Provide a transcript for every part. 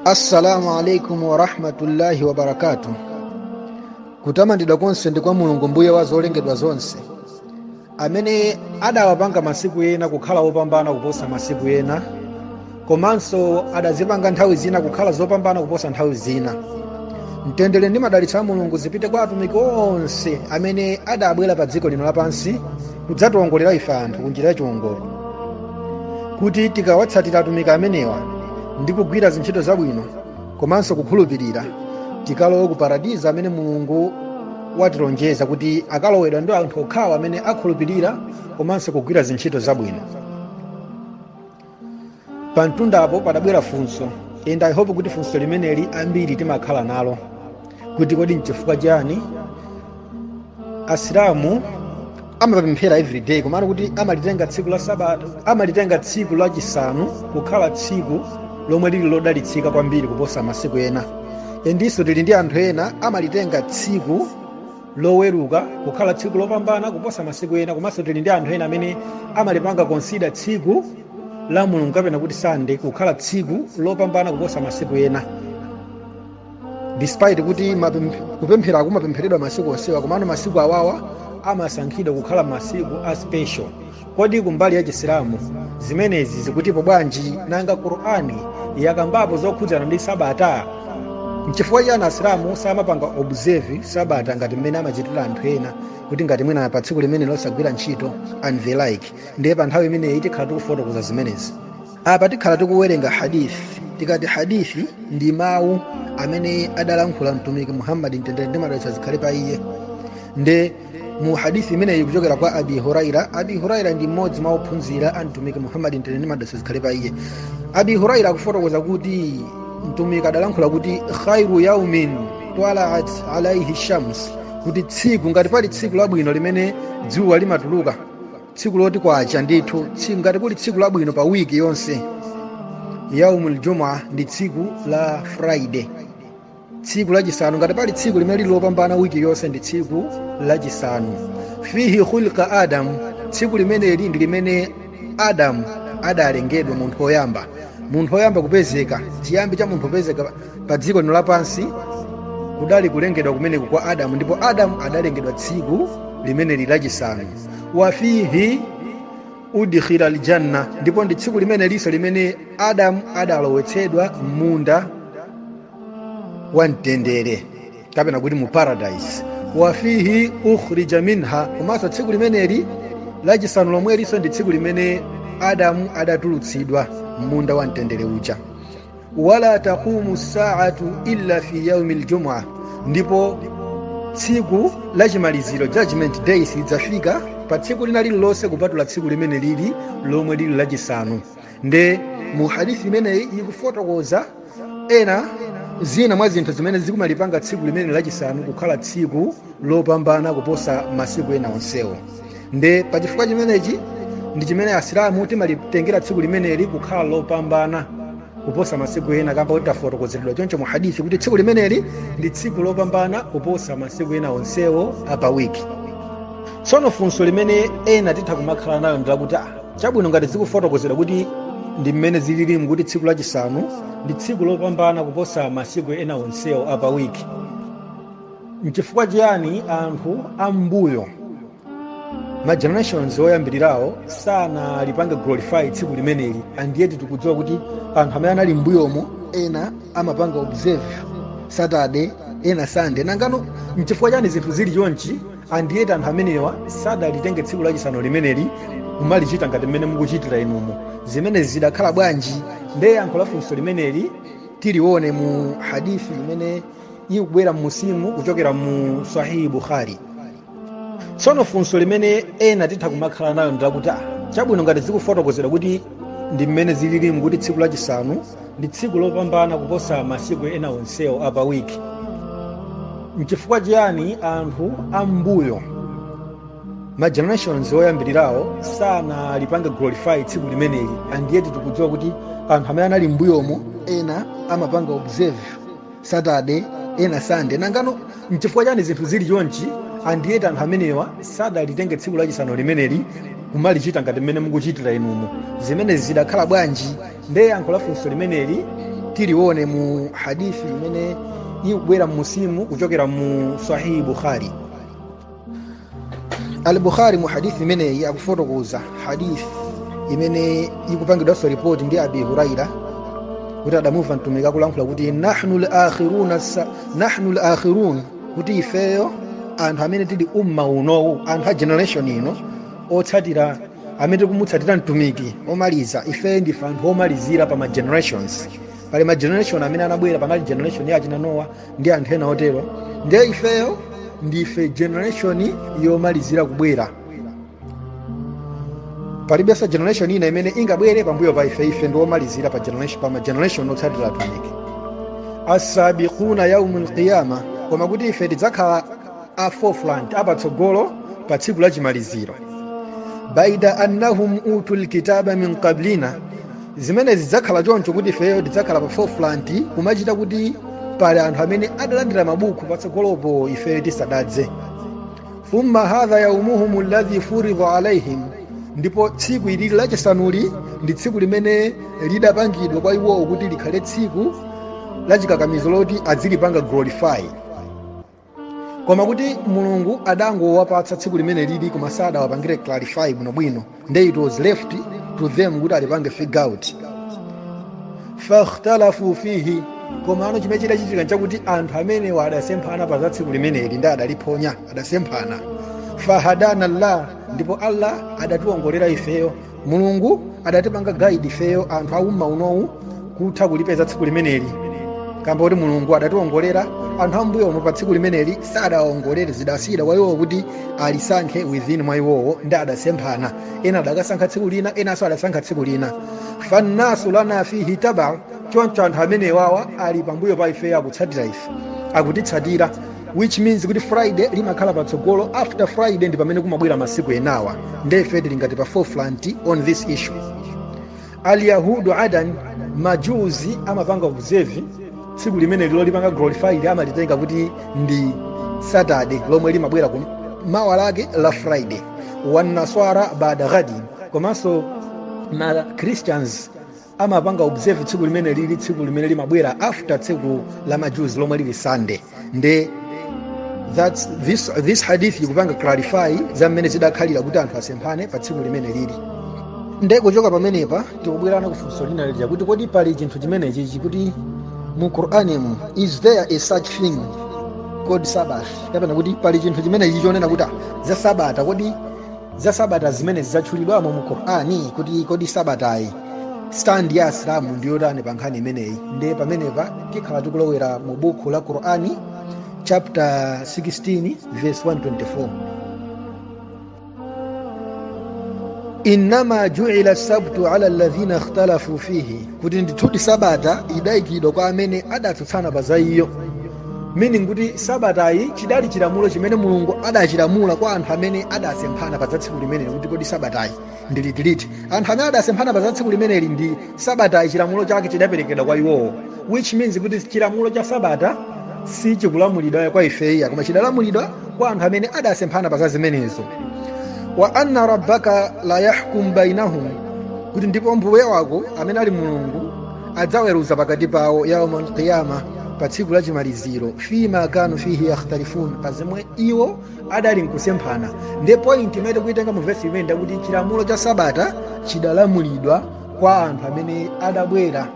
assalamu alaikum warahmatullahi wabarakatu kutamandidwa konse ndi kwa mulungu mbuye wa zolengedwa zonse amene adawapanga masiku ena kukhala opambana kuposa masiku ena komanso adazipanga nthawi zina kukhala zopambana kuposa nthawi zina mtendere ndi madalitso a mulungu zipite kwa atumiki onse amene adabwera pa dziko lino lapansi kudzatiwongolera ife anthu kunjira yachiwongolo kuti tikawatsatira atumiki amenewa ndi kugwira zintchito zabwino komanso kukhulupirira tikalowe ku paradizo amene mulungu watilonjeza kuti akalowedwa ndi anthu okhawo amene akhulupirira komanso kugwira zintchito zabwino pamtundapo padabwera funso and i hope kuti funso limeneli ambiri timakhala nalo kuti kodi nchifukwa chiyani asilamu amapemphera everyday komano kuti sabata amalitenga tsiku la chisanu kukhala tsiku lomwe lili lodalitsika kwambiri kuposa masiku ena endinso tili ndi anthu ena amalitenga tsiku loweruka kukhala tsiku lopambana kuposa masiku ena komanso tili ndi anthu ena amene amalipanga konsida tsiku la mulungu kapena kuti sande kukhala tsiku lopambana kuposa masiku ena despite kuti kupemphera kumapempheredwa masiku onsewa komano masiku awawa amasankhidwa kukhala masiku a special kodi kumbali ya chisilamu zimenezi zikutipo bwanji nanga qur'ani yakambapo zokhudzana ndi sabata nchifukwa chiyani asilamu samapanga observe sabata ngati mmene amachitira anthu ena kuti ngati mwina pa tsiku limene losagwira ntchito and the like ndiye pa nthawi imeneyi tikhala tikufotokoza zimenezi apa tikhala tikuwerenga hadithi tikati hadithi ndi mawu amene adalankhula mtumiki muhammadi mtendere ndi madalitso zikhale pa iye nde mu hadithi imeneyi kuchokera kwa abi huraira abi huraira ndi mmodzi mwa ophunzira a mtumiki muhammadi mtendere ndi madalitso zikhale pa iye abi huraira akufotokoza kuti mtumiki adalankhula kuti khairu yaumin twalaat alaihi shams kuti tsiku ngati pali tsiku labwino limene dzuwa limatuluka tsiku loti kwacha ndithu tsiku ngati kuli tsiku labwino pa wiki yonse yaumul juma ndi tsiku la friday tsiku lachisanu ngati pali tsiku limene lili lopambana wiki yonse ndi tsiku lachisanu fihi khuliqa adamu tsiku limeneli ndi limene adamu adalengedwa munthu woyamba munthu woyamba kupezeka chiyambi cha munthu kupezeka pa dziko lino lapansi kudali kulengedwa kumeneku kwa adamu ndipo adamu adalengedwa tsiku limeneli lachisanu wafihi udkhila aljanna ndipo ndi tsiku limenelinso limene adamu adalowetsedwa m'munda wamtendere kapena kuti mu paradise wafihi ukhrija minha komanso tsiku limeneli lachisanu lomwelinso ndi tsiku limene adamu adatulutsidwa m'munda wa mtendere uja wala taqumu saatu illa fi yaumi ljumua ndipo tsiku lachimaliziro judgment day silidzafika pa tsiku lina lililonse kupatula tsiku limeneli lomwe lili lachisanu nde mu hadithi imeneyi ikufotokoza ina zina mwa zinthu zimene zikumalipanga tsiku limeneli lachisanu kukhala tsiku lopambana kuposa masiku ena onsewo nde pa chifukwa chimenechi ndi chimene asilamu timalitengera tsiku limeneli kukhala lopambana kuposa masiku ena kamba kuti tafotokozeredwa choncho mu hadithi kuti tsiku limeneli ndi tsiku lopambana kuposa masiku ena onsewo a pa wiki tsono funso limene ena titha kumakhala nalo ndilakuti ah, chabwino ngati zikufotokozedwa kuti ndi mmene zililimu kuti tsiku lachisanu ndi tsiku lopambana kuposa masiku ena onsewo a pa wiki nchifukwa chiyani anthu am'mbuyo ma generations oyambirirawo sanalipange glorify tsiku limeneli and yet tikudziwa kuti anthu amene anali m'mbuyomo ena amapanga observe saturday ena sunday nangano nchifukwa chani zinthu zili chonchi and yet anthu amenewa sadalitenge tsiku lachisanu limeneli kumalichita ngati mmene mukuchitira inumu zimenezi zidakhala bwanji nde yankho la funso limeneli tilione mu hadithi imene ikubwera mmusimu kuchokera mu sahihi bukhari tsono funso limene ena titha kumakhala nalo ndilakuti ah, chabwino ngati zikufotokozedwa kuti ndi mmene zililimu kuti tsiku lachisanu ndi tsiku lopambana kuposa masiku ena onsewo a pa wiki nchifukwa chiyani anthu am'mbuyo ma generations oyambirirawo sanalipange glorify tsiku limeneli and yet tikudziwa kuti anthu amene anali m'mbuyomo ena amapanga observe saturday ena sunday nangano nchifukwa chani zinthu zili chonchi and yet anthu amenewa sadalitenge tsiku lachisanu limeneli kumalichita ngati mmene mukuchitira inumu zimenezi zidakhala bwanji nde yankho la funso limeneli tilione mu hadithi imene ikubwera mmusimu kuchokera mu sahihi bukhari al-bukhari mu hadithi imeneyi akufotokoza hadithi imene ikupangidwanso ripoti ndi abi huraira kuti adamumva mtumiki akulankhula kuti nahnu lakhirun kuti ifeyo anthu amene tili umma unowu anthu a generation ino otsatira amene tikumutsatira mtumiki omaliza ife ndife anthu omalizira pa ma generations pali ma generation amene anabwera panali generation ya achina nowa ndi anthu ena otero ndiye ifeyo ndife generation yomalizira kubwera palibenso generation ina imene ingabwere pambuyo pa ife ife ndi omalizira pa generation pa ma generation otsatira mtumiki asabiquna yaumu lqiyama koma kuti ife tidzakhala a forefront apatsogolo pa tsiku la chimaliziro baida annahum utul kitaba min qablina zimenezi zidzakhala choncho kuti ifeyo tidzakhala pa forefront kumachita kuti pali anthu amene adalandira mabuku patsogolopo ifeyo tisadadze thumma hadha yaumuhum alladhi furidha alaihim ndipo tsiku ilili lachisanuli ndi tsiku limene lidapangidwa kwa iwowo kuti likhale tsiku lachikakamizo loti adzilipanga glorify koma kuti mulungu adangowapatsa tsiku limeneli koma sadawapangire clarify bwinobwino nde it was left to them kuti alipange figure out fakhtalafu fihi komano chimene chidachitika nchakuti anthu amenewa adasemphana pa za tsiku limeneli ndi adaliphonya adasemphana fahadana llah ndipo allah adatiwongolera ifeyo mulungu adatipanga guide ifeyo anthu aumma unowu kutha kulipeza tsiku limeneli kamba kuti mulungu adationgolera anthu ambuyomo pa tsiku limeneli sadaongolere zidasiyidwa kwa iwowo kuti alisankhe within mwa iwowo ndi adasemphana ena adakasankha tsiku lina enanso adasankha tsiku lina fannasu lana fihi tabau choncho anthu amenewawa ali pambuyo pa ifeyo akutsatira ife akutitsatira which means kuti friday limakhala patsogolo after friday ndi pamene kumabwera masiku enawa nde ife tili ngati pa forefront on this issue alyahudu ghadan majuzi amapanga observe tsiku limeneli lolipanga glorified amalitenga kuti ndi saturday lomwe limabwera ku mawa lake la friday wanaswara bada ghadi komanso ma christians amapanga observe tsiku limeneli tsiku limene limabwera after tsiku la majuzi lomwe lili sunday nde that's this, this hadith ikupanga clarify za mmene zidakhalira kuti anthu asemphane pa tsiku limeneli nde kuchoka pamenepa tikubwerano ku funso lina lija kuti kodi pali chinthu chimenechichi kuti mu quranimu is there a such thing called sabbath kapena kuti pali chinthu chimenechi chonena kuti ah, za sabata kodi za sabata zimenezi zidatchulidwamo mu qur'ani kuti kodi sabatayi stand ya asilamu ndiyotani pa nkhani imeneyi ndiye pamenepa tikhala tikulowera mu buku la qur'ani chapter 16 verse 124 innama juila sabtu ala alladhina ikhtalafu fihi kuti ndithudi sabata idayikidwa kwa amene adatsutsana pa za iyo meaning kuti sabatayi chidali chilamulo chimene mulungu adachilamula kwa anthu amene adasemphana pa za tsiku limeneli kuti kodi sabatayi ndi liti liti anthu amene adasemphana pa za tsiku limeneli ndi sabatayi chilamulo chake chidaperekedwa kwa iwowo which means kuti chilamulo cha sabata si chikulamulidwa kwa ifeya koma chidalamulidwa kwa anthu amene adasemphana pa za zimenezo wa inna rabbaka la yahkum bainahum kuti ndipo mbuye wako amene ali mulungu adzaweruza pakati pawo yauma alqiyama pa tsiku la chimaliziro fima kanu fihi yakhtalifun pa zomwe iwo adali nkusemphana nde point imene tikuitenga mu vesi imeneyi ndakuti chilamulo cha sabata chidalamulidwa kwa anthu amene adabwera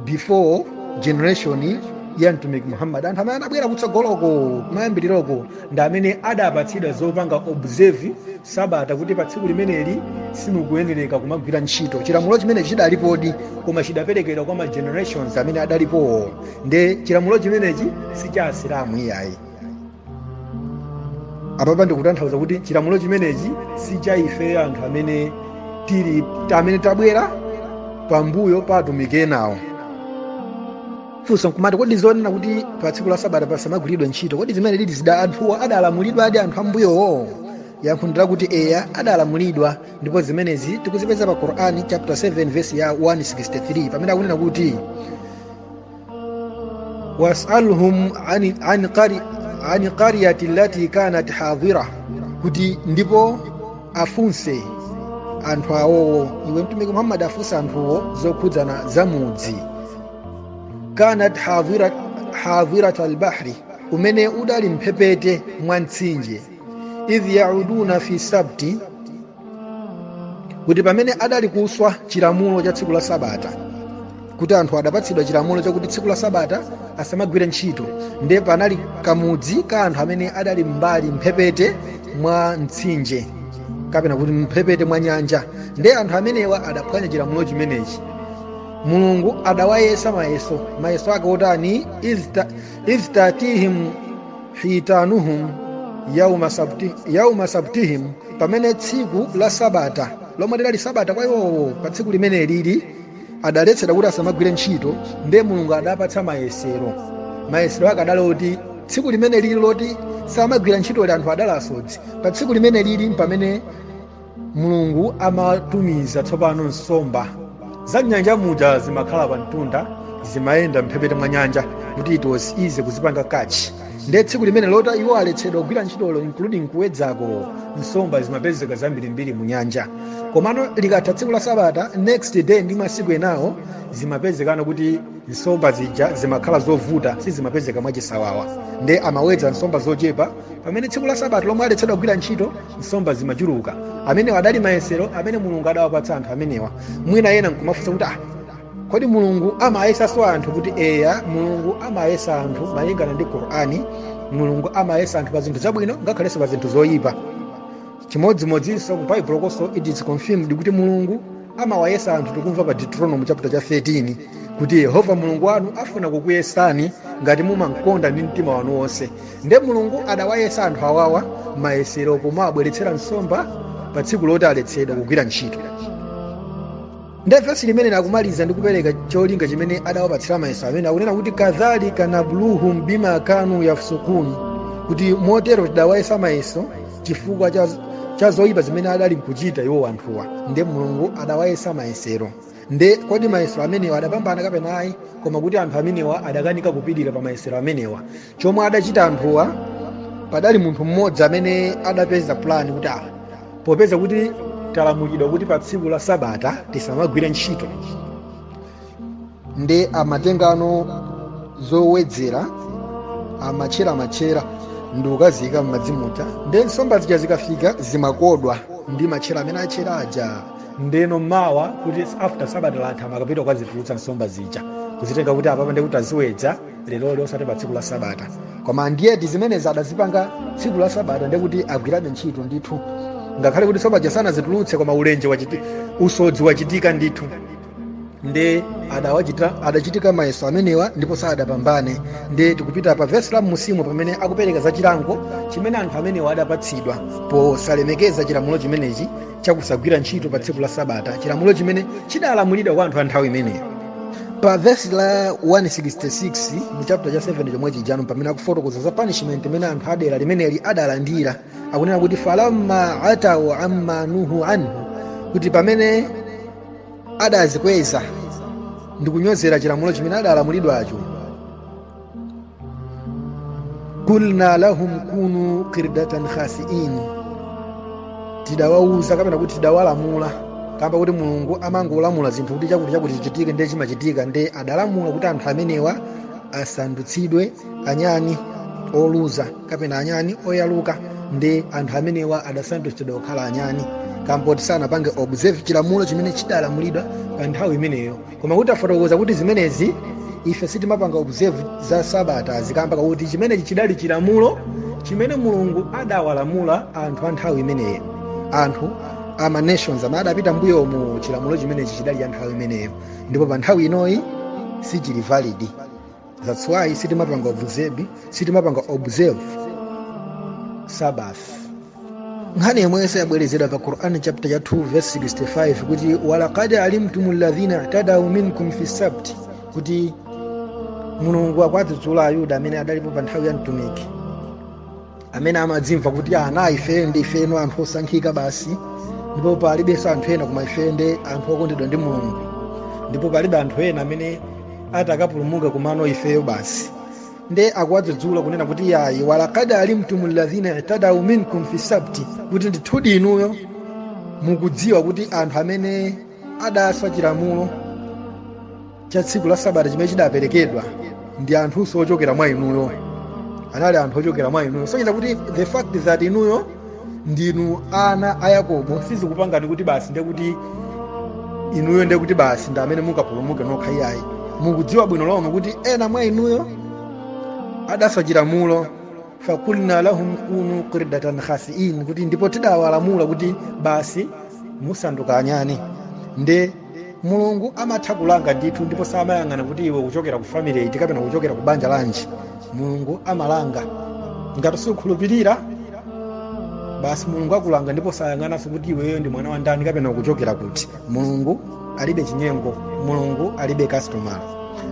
before generation ya mtumiki muhammad anthu amene adabwera kutsogoloko kumayambiriroko ndi amene adapatsidwa zopanga observe sabata kuti pa tsiku limeneli simukuyenereka kumagwira ntchito chilamulo chimenechi chidalipodi koma chidaperekedwa kwa ma generations amene adalipowo nde chilamulo chimenechi si cha asilamu iyayi apapa ndikutanthauza kuti chilamulo chimenechi si cha ife anthu amene tili amene tabwera pambuyo pa atumiki enawo funso nkumati kodi zonena kuti pa tsiku la sabata pasamagwiridwe ntchito kodi zimenezi zida anthuwo adalamulidwadi anthu ambuyowo yankho ndi lakuti eya adalamulidwa ndipo zimenezi tikuzipeza pa qur'ani chapter 7 verse ya 163 pamene akunena kuti wasalhum anil qaryati lati kanat hadhira kuti ndipo afunse anthu awowo iwe mtumiki muhammad afunse anthuwo zokhudzana za mudzi kanat hadirat albahri umene udali mphepete mwa mtsinje idh yaaduna fi sabti kuti pamene adali kuswa chilamulo cha tsiku la sabata kuti anthu adapatsidwa chilamulo chakuti tsiku la sabata asamagwire ntchito nde panali kamudzi ka anthu amene adali mbali mphepete mwa mtsinje kapena kuti mphepete mwa nyanja nde anthu amenewa adaphwanya chilamulo chimenechi mulungu adawayesa mayeso mayeso ake otani iztatihim hitanuhum yauma sabtihim pamene tsiku la sabata lomwe lidali sabata kwa iwowo pa tsiku limeneli adaletsedwa kuti asamagwire ntchito nde mulungu adawapatsa mayesero mayesero ake adali oti tsiku limeneli loti samagwira ntchitoli anthu adali asodzi pa tsiku limeneli mpamene mulungu amatumiza tsopano nsomba za m'nyanja muja zimakhala pa mtunda zimayenda mphepete mwa nyanja kuti it was easy kuzipanga catch nde tsiku limene loti iwo aletsedwa kugwira ntchitolo including kuwedzako nsomba zimapezeka zambirimbiri mu nyanja komano likatha tsiku la sabata next day ndi masiku enawo zimapezekano kuti nsomba zija zimakhala zovuta sizimapezeka mwachisawawa nde amawedza nsomba zochepa pamene tsiku la sabata lomwe aletsedwa kugwira ntchito nsomba zimachuluka amenewa adali mayesero amene mulungu adawapatsa anthu amenewa mwina ena nkumafunsa kuti ah kodi mulungu amayesanso anthu kuti eya mulungu amayesa anthu malingana ndi qur'ani mulungu amayesa anthu pa zinthu zabwino ngakhalenso pa zinthu zoyipa chimodzimodzinso ku baibulo konso it is confirmed kuti mulungu amawayesa anthu tikumva pa deuteronomy chapter cha 13 kuti yehova mulungu wanu afuna kukuyesani ngati mumamkonda ndi mtima wanu wonse nde mulungu adawayesa anthu awawa mayesero pomawabweretsera nsomba pa tsiku loti aletsedwa kugwira ntchito nde vesi limene lakumaliza ndi kupereka cholinga chimene adawapatsira mayeso amenewa akunena kuti kadhalika nabluhum bima kanu yafsukuni kuti motero tidawayesa mayeso chifukwa cha zoyipa zimene adali nkuchita iwo anthuwa nde mulungu adawayesa mayesero nde kodi mayeso amenewa adapambana kapena ayi koma kuti anthu amenewa adakanika kupirira pa mayesero amenewa chomwe adachita anthuwa padali munthu mmodzi amene adapeza pulani kuti ah popeza kuti talamulidwa kuti pa tsiku la sabata tisamagwire ntchito nde amatengano zowedzera amatcheramatchera ndi kukaziyika m'madzi muja nde nsomba zija zikafika zimakodwa ndi matchera amene atchera aja ndeno mawa kuti after sabata latha amapita kukazitulutsa nsomba zija kuzitenga kuti apapa ndi kuti taziwedza leroli osati pa tsiku la sabata koma and yet zimenezi adazipanga tsiku la sabata ndekuti agwirabe ntchito ndithu ngakhale kuti nsombazo sanazitulutse koma ulenje usodzi wachitika ndithu nde adawa adachitika mayeso amenewa ndipo sadapambane nde tikupita pa vesi la mmunsimu pamene akupereka za chilango chimene anthu amenewa adapatsidwa posalemekeza chilamulo chimenechi cha kusagwira ntchito pa tsiku la sabata chilamulo chimene chidalamulidwa kwa anthu a nthawi imeneyo pa vesi la 166 mu chapter cha 7 chomwechi chano pamene akufotokoza za punishment imene anthu a dera limeneli adalandira akunena kuti falamma atau amma nuhu anhu kuti pamene adazikweza ndi kunyozera chilamulo chimene adalamulidwacho kulna lahum kunu kirdatan khasiin tidawauza kapena kuti tidawalamula kamba kuti mulungu amangolamula zinthu kuti chakuti chakuti chichitike ndiye chimachitika ndiye adalamula kuti anthu amenewa asandutsidwe anyani oluza kapena anyani oyaluka nde anthu amenewa adasandutsidwa kukhala anyani kamba kuti sanapange observe chilamulo chimene chidalamulidwa pa nthawi imeneyo koma kuti afotokoza kuti zimenezi ife sitimapanga observe za sabatazi kamba kuti chimenechi chidali chilamulo chimene mulungu adawalamula anthu a nthawi imeneyo anthu ama nations amene adapita mbuyomu chilamulo chimenechi chidali cha nthawi imeneyo ndipo pa nthawi inoyi sichili valid that's why sitimapanga observe sitimapanga observe sabbath nkhani yomweyonso yabwerezedwa pa quran chapter ya 2 verse 65 kuti walakad alimtum alladhina tadau minkum fi sabti kuti mulungu akuwadzudzula ayuda amene adalipo pa nthawi ya mtumiki amene amadzimva kuti ana ifeyo ndife ano anthu osankhika basi ndipo palibenso anthu ena koma ifeyo ndi anthu okondedwa ndi mulungu ndipo palibe anthu ena amene atakapulumuke koma ano ifeyo basi nde akuwadzudzula kunena kuti yayi walakad alimtum alladhina itadau minkum fi sabti kuti ndithudi inuyo mukudziwa kuti anthu amene adaswa chilamulo cha tsiku la sabata chimene chidaperekedwa ndi anthunso ochokera mwa inuyo anali anthu ochokera mwa inuyo sonyeza kuti the fact that inuyo ndinu ana a yakobo sizikupangani kuti basi ndiye kuti inuyo ndiye kuti basi ndi amene mukapulumuke nokha iyayi mukudziwa bwino lomwe kuti ena mwa inuyo adaswa chilamulo fakulna lahum kunu qirdatan khasiin kuti ndipo tidawalamula kuti basi musanduka anyani nde mulungu amatha kulanga ndithu ndipo samayang'ana kuti iwe ukuchokera ku family iti kapena kuchokera ku banja lanji mulungu amalanga ngati sukukhulupirira basi mulungu akulanga ndipo sayang'ananso kuti iweyo ndi mwana wa ndani kapena ukuchokera kuti mulungu alibe chinyengo mulungu alibe kasitomala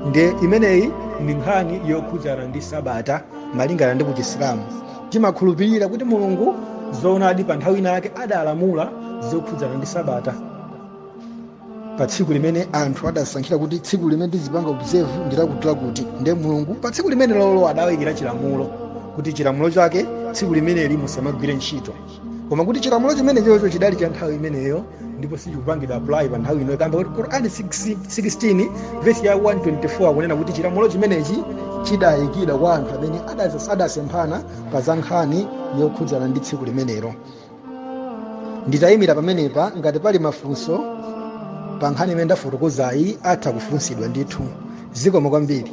nde imeneyi ndi nkhani yokhudzana ndi sabata malingana ndi ku chisilamu timakhulupirira kuti mulungu zoonadi pa nthawi ina yake adalamula zokhudzana ndi sabata pa tsiku limene anthu adasankhira kuti tsiku limene tizipanga observe ndi lakutilakuti nde mulungu pa tsiku limenelolo adawayikira chilamulo kuti chilamulo chake tsiku limeneli musamagwire ntchito koma kuti chilamulo chimenechocho chidali cha nthawi imeneyo ndipo sichikupangidwa apply pa nthawi inoyo kamba kuti qurani 16 vesi ya 124 akunena kuti chilamulo chimenechi chidayikidwa kwa anthu amene adasemphana pa za nkhani yokhudzana ndi tsiku limenelo nditayimira pamenepa ngati pali mafunso pa nkhani imene ndafotokozayi atha kufunsidwa ndithu zikomo kwambiri